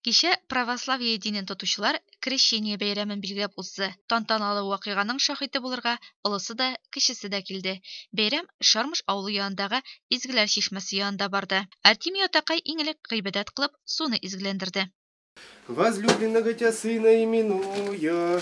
Кичә православие динен тотучылар Крещение бәйрәмен билгеләп узды. Тантаналы вакыйганың шаһиты булырга олысы да, кечесе дә килде. Бәйрәм Чармыш авылы янындагы Изгеләр чишмәсе янында барды. Артемий атакай иң элек гыйбадәт кылып, суны изгеләндерде. Возлюбленного тя сына именуя.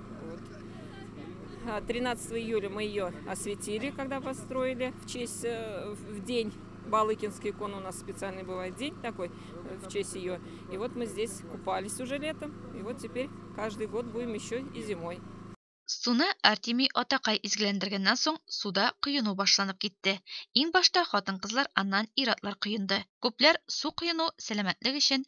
13 а, июля мы ее осветили, когда построили в честь, э, в день Балыкинский кон у нас специальный бывает день такой э, в честь ее. И вот мы здесь купались уже летом, и вот теперь каждый год будем еще и зимой. Суны Артемий атакай изгеләндергәннән соң суда коену башланып китте. Иң башта хатын-кызлар, аннан ир-атлар коенды. Күпләр су коену сәламәтлек өчен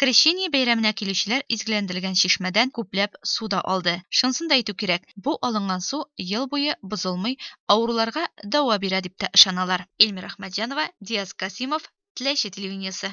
Крещение бәйрәменә килүчеләр изгеләндерелгән чишмәдән күпләп су да алды. Шунысын да әйтү кирәк, бу алынган су ел буе бозылмый, авыруларга дәва бирә дип тә ышаналар. Эльмира Әхмәтҗанова, Диас Касыймов, Теләче телевидениесе.